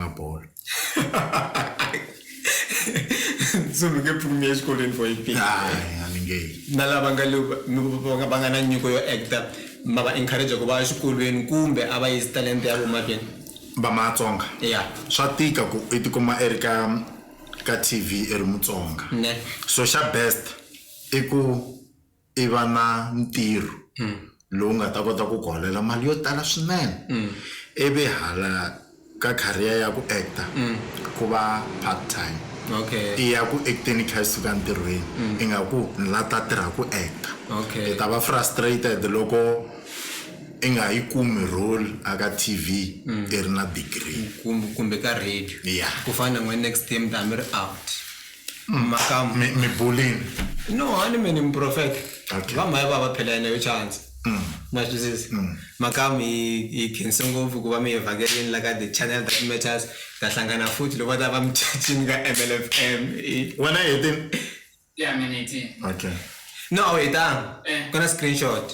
na bolo tsundzuke pfukumi ya xikolweni for yiphi a ni nge yi na lava nga le va nga- va nga na nyiko yo actor ma va encourage ku va ya xikolweni kumbe a va yisi talenta ya vomahlweni va matsonga ya swa tika ku i tikuma i ri ka ka tv i ri mutsonga ne so xa best i ku i va na ntirho lowu nga ta kota ku ku holela mali yo tala swinene ivi hala ka career ya ku actor ku va part time i ya ku act-eni i kha i suka ntirhweni ingaku ni la ta tirha ku actor i ta va frustrated loko i nga yi kumi role a ka T_V i ri na degree kumbe ka radio ya ku fana na n'wina next year mi ta va mi ri out. makamu mi mi bulini no hani mini muprofeta Okay. vamhaya va va phela yena yo chance ma swi twisisa makamu hi hi khense ngopfu ku va mi hi vhakerini la ka the channel that matters ta hlangana futhi loko va ta va mi chachini ka mlfm I- wena hi ti Yeah, minute. okay no a wu hetanga Eh. ku na screenshot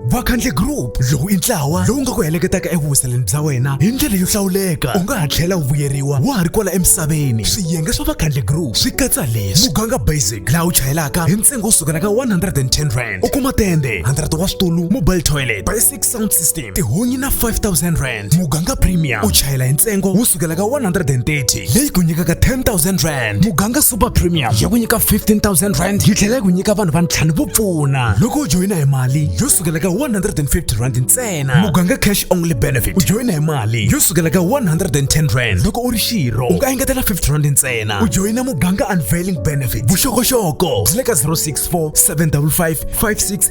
vakhandle group lowu i ntlawa lowu nga ku heleketaka evuwiseleni bya wena hi ndlela yo hlawuleka u nga ha tlhela wu vuyeriwa wa ha ri kwala emisaveni swiyenge swa vakhandle group swi katsa leswi muganga basic laha u chayelaka hi ntsengo wo sukela ka 110 rand u kuma tende 100 wa switulu mobile toilet sound system tihunyi na 5000 rand muganga premium u chayela hi ntsengo wo sukela ka 130 leyi ku nyikaka 10000 rand muganga super premium ya ku nyika 15000 rand yi tlhela yi ku nyika vanhu va ntlhanu vo pfuna loko u joyina hi mali yo sukela ka 150 rand ntsena muganga cash only benefit u joyina hi mali yo sukela ka 110 rand loko u ri xirho u nga engetela 50 rand ntsena u joyina muganga unveiling benefit vuxokoxoko byi le ka 064 755 56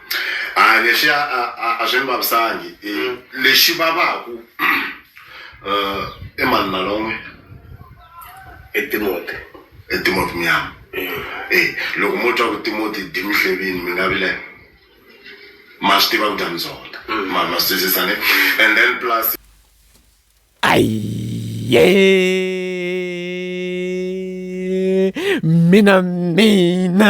hayi leswi a a- a- a swi ni vavisangi Eh, lexi vavaku um i mani nalon'we i timote i timoti muyama e loko mo twa ku timoti di mi hlevini mi nga vile ma swi tiva ku dya mizonda ma ma swi twisisa ne and then plus Aye. Mina, mina.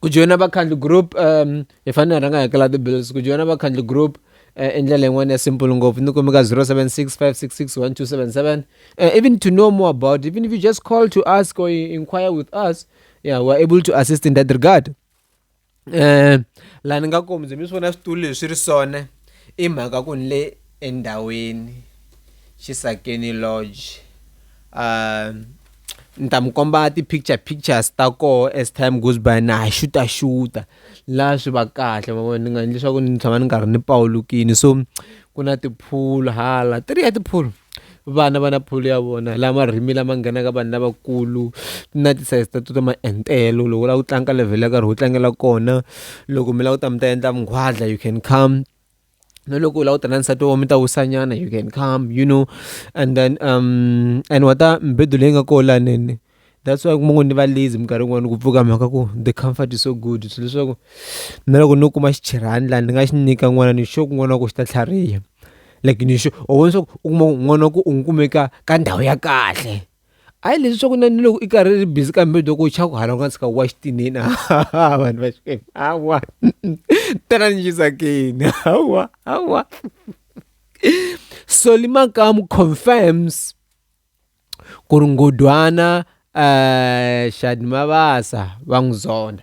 ku joyina vakhandli group um hi fanele hi rhanga hi hakela ti-bills ku joyina vakhandli group uh, i ndlela yin'wana ya simple ngopfu ni kumeka 0765661277 uh, eh, even to know more about even if you just call to ask or inquire with us yeah we're able to assist in that regard um uh, laha ni nga komi byi mi swi vona switulu leswi ri sone i mhaka ku ni le endhawini Xisakeni Lodge um ni ta mi komba ti picture pictures ta koho as time goes by na ha xuta xuta la swi va kahle ma vona ni nga endli swaku ni tshama ni karhi ni pawulukile so ku na ti pool hala ti ri ya ti pool vana va na pool ya vona la marimi lama nghenaka vanhu lavakulu na ti size ta ta ma entelo loko u lava ku tlanga ka level yo karhi u tlangela kona loko mi lava ku ta mi ta endla vunghwadla you can come. na loko u lava ku ta na nsati wa mi ta wisa nyana you can come you know and then and wa ta mibedo leyi nga kona laha that's why kuma ku ni va lazy minkarhi yin'wani ku pfuka mhaka ku the comfort is so good swi leswaku na loko no kuma xichirani laha ni nga xi nyika n'wana ni sure ku n'wana wa ku xi ta tlhariha like ni sure or leswaku u kuma n'wana wa ku u n'wi kumeka ka ndhawu ya kahle. A hi leswi swa ku na ni loko i karhi i ri busy ka mibedo ku chava ku hala u nga tshika wa xitinini hawa vanhu va xikwembu hawa tana ni xisakeni hawa hawa so limakamu confirms ku ri nghondwana um xana mavasa va n'wi zonda.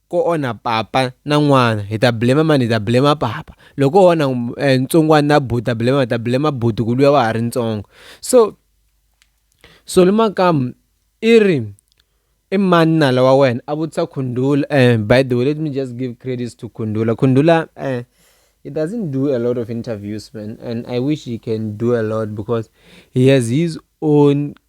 ko onha papa na n'wana hi ta blame mani hi ta blame papa loko o onha eh, ntsongwana na buti ta blame ta blame buti ku luya wa ha ri ntsongo so soli makamu i ri i mani nala wa wena a vutisa khundula eh, by the way let me just give credits to khundula khundula eh, he doesn't do a lot of interviews man and i wish he can do a lot because he has his own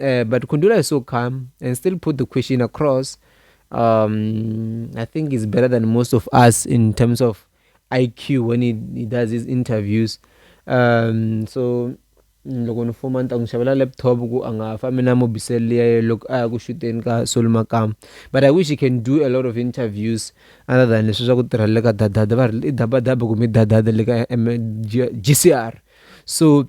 Uh, but Kundula is so calm and still put the question across. Um, I think he's better than most of us in terms of IQ when he, he does his interviews. Um, so mm, loko ni fuma ni ta n'wi xavela laptop ku a nga fambi na mobisele liya loko a ya ku xuteni ka solomakama but i wish he can do a lot of interviews other than leswi swa ku tirha le ka dadada va ri i dabadaba kumbe dadada le ka gcr so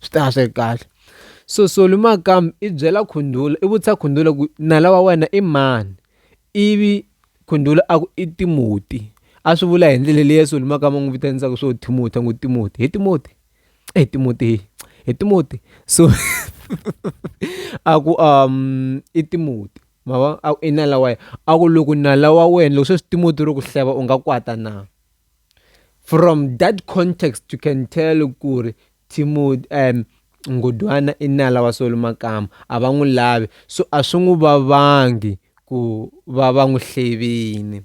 swi ta va swi ri kahle so soli makamu i byela khundula i vutisa khundula ku nala wa wena i mani ivi khundula a ku i timoti a swi vula hi ndlela leyi ya soli makamu a n'wi vitanisaka swo timoti a ngo timoti hi timoti hi timoti hi hi timoti so a ku i timoti ma vo a ku i nala wa yena a ku loko nala wa wena loko se swi timoti ro ku hleva u nga kwata na. From that context you can tell ku ri Timothy um Nghudwana i nala wa Solo Makama a va n'wi lavi so a swi n'wi vavangi ku va va n'wi hlevini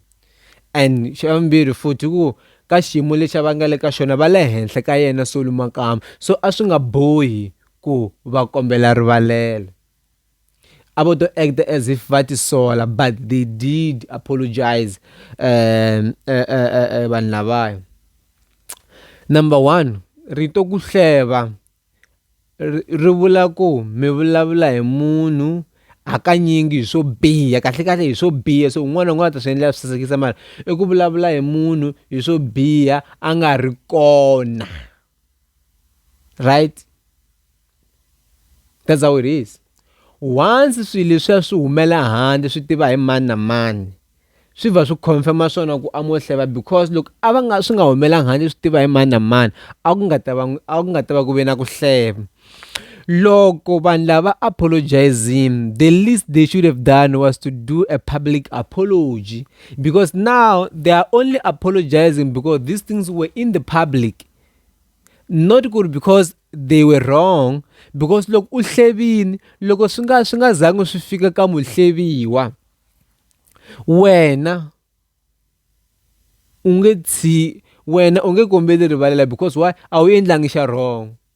and xa vumbirhi futhi ku ka xiyimo lexi va nga le ka xona va le henhla ka yena Solo Makama so a swi nga bohi ku va kombela rivalelo. a vo to act as if va tisola but they did apologize um eh, eh, eh, eh, vanhu lavaya number one rito ku hleva ri vula ku mi vulavula hi munhu hakanyingi hi swo biha kahlekahle hi swo biha so un'wana un'wana ta swi endlela swi sasekisa mara i ku vulavula hi munhu hi swo biha a nga ri kona right that's how it is once swilo leswiya swi humela handle swi tiva hi mani na mani swi va swi confirm-a swona ku a mo hleva because loko a va nga swi nga humelanga handle swi tiva hi mani na mani a ku nga ta va a ku nga ta va ku ve na ku hleva. loko vanhu lava apologizing the least they should have done was to do a public apology because now they are only apologizing because these things were in the public not good because they were wrong because loko u hlevini loko swi nga swi nga zangi swi fika ka muhleviwa wena u nge tshi wena u nge kombeli rivalela because why a wu endlangi xa wrong.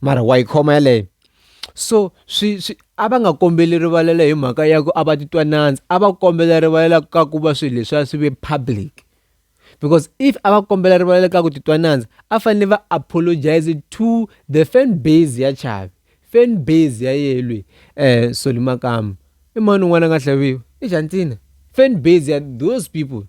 mara wa yi khoma yaleyo so swi swi a va nga kombeli rivalelo hi mhaka ya ku a va titwa nandza a va kombela rivalela ka ku va swilo leswiya swi ve public because if a va kombela rivalelo ka ku titwa nandza a fanele va apologize to the fan base ya chavi fan base ya yehe lweyi Solly Makamu i mani un'wana a nga tlhaviwi i Xana Ntsena fan base ya those people.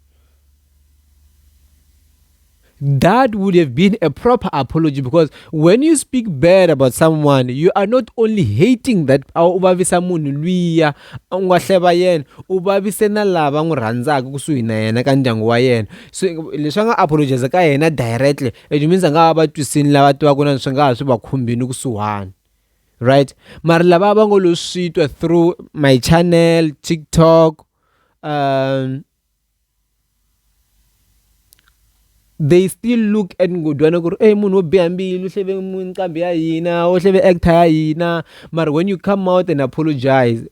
That would have been a proper apology because when you speak bad about someone, you are not only hating that u vavisa munhu luya u nga hleva yena u vavise na lava n'wi rhandzaka kusuhi na yena ka ndyangu wa yena so leswi a nga apologize ka yena directly it means a nga va va twisini lava tivaka na swi nga ha swi va khumbini kusuhani right mara lava va ngo lo swi twa through my channel tiktok um they still look at nghondwana ku ri ey munhu wo biha mbilu u hleve nqambi ya hina u hleve actor ya hina mara when you come out and apologise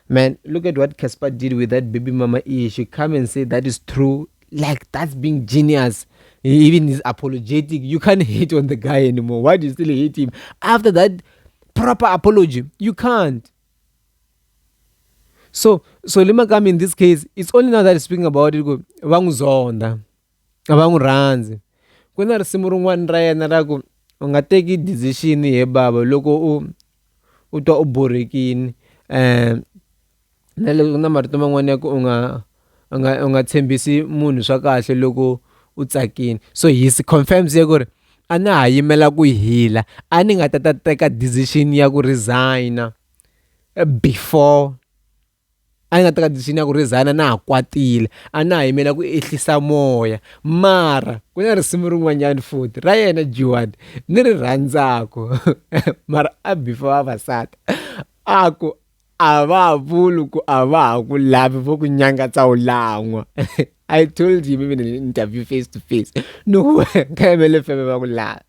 man look at what Casper did with that baby mama issue come and say that is true like that's being genius he even is apologetic you can't hate on the guy anymore why do you still hate him after that proper apology you can't so so le makami in this case it's only now that is speaking about it ku va n'wi zonda a va n'wi rhandzi ku na risimu rin'wana ra yena ra ku u nga teki decision he bava loko u u twa u borhekini um na le ku na marito man'wana ya ku u nga u nga u nga tshembisi munhu swa kahle loko u tsakini so hi confirms ya ku ri a na ha yimela ku hila a ni nga ta ta teka decision ya ku resign-a. before a ni na tradition ya ku rhezana na ha kwatile a na ha yimela ku ehlisa moya mara ku na risimu rin'wanyana futhi ra yena Joan ni ri rhandzaka mara a before vavasati a ku a va ha vuli ku a va ha ku lavi vo ku nyangatsa u lan'wa I told him even in an interview face to face no ka yimele feme va ku lava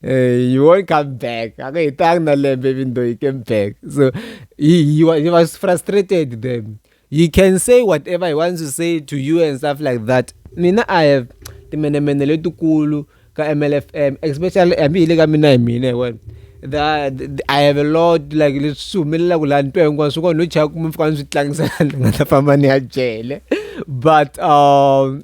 hey, you won't come back. I mean, thank the lamb even though he came back. So he, he, was, he was frustrated then. He can say whatever he wants to say to you and stuff like that. Mina, I have the menemene letukulu ka MLFM, especially I mean, like mina, mina, well. I have a lot like le sumelela ku laha ntwa hinkwaswo kona no chaya kuma fika ni swi tlangisana ni nga ta famba ni ya jele but um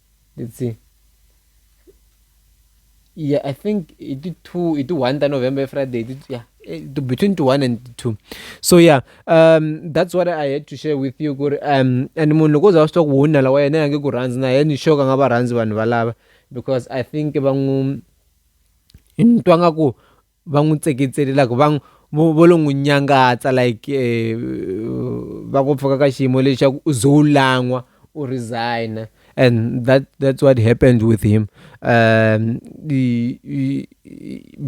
let's see yeah i think it did two it did one the november friday did, yeah eh, between two one and two so yeah um that's what i had to share with you kuri um and munhu loko za swa ku huna lawa yena yange ku rhandzi na yena sure ka nga va rhandzi vanhu valava because i think va n'wi ni twa nga ku va n'wi tseketsele like va n'wi vo vo lo n'wi nyangatsa like va ku pfuka ka xiyimo lexi xa ku u ze u lan'wa u resign-a and that that's what happened with him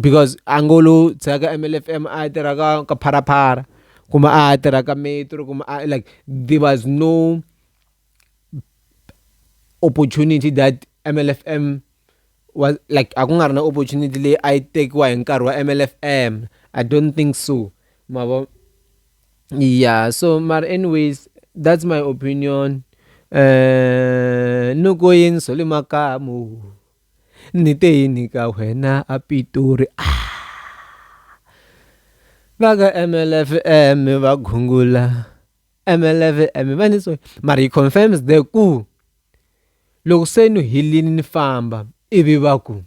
because a ngo lo tshika ka M_L_F_M a ya tirha ka ka Phalaphala kumbe a ya tirha ka Metro kumbe a like there was no opportunity that M_L_F_M. wa like a ku nga ri na opportunity leyi a yi tekiwa hi nkarhi wa M_L_F_M I don't think so ma vo ya so mara anyways that's my opinion ni ku yini swa le makaya mo ni te yini ka wena a Pitori va ka M_L_F_M va gungula. M11 a mi va ni tsoni mara he confirms the ku loko se ni helini ni famba ivi va ku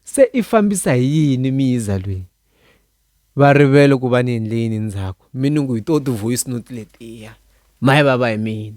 se i fambisa hi yini mi yiza lweyi va rivele ku va ni endle yini ndzhaku mi ni ku hi to ti-voice note letiya ma yi vava hi mina.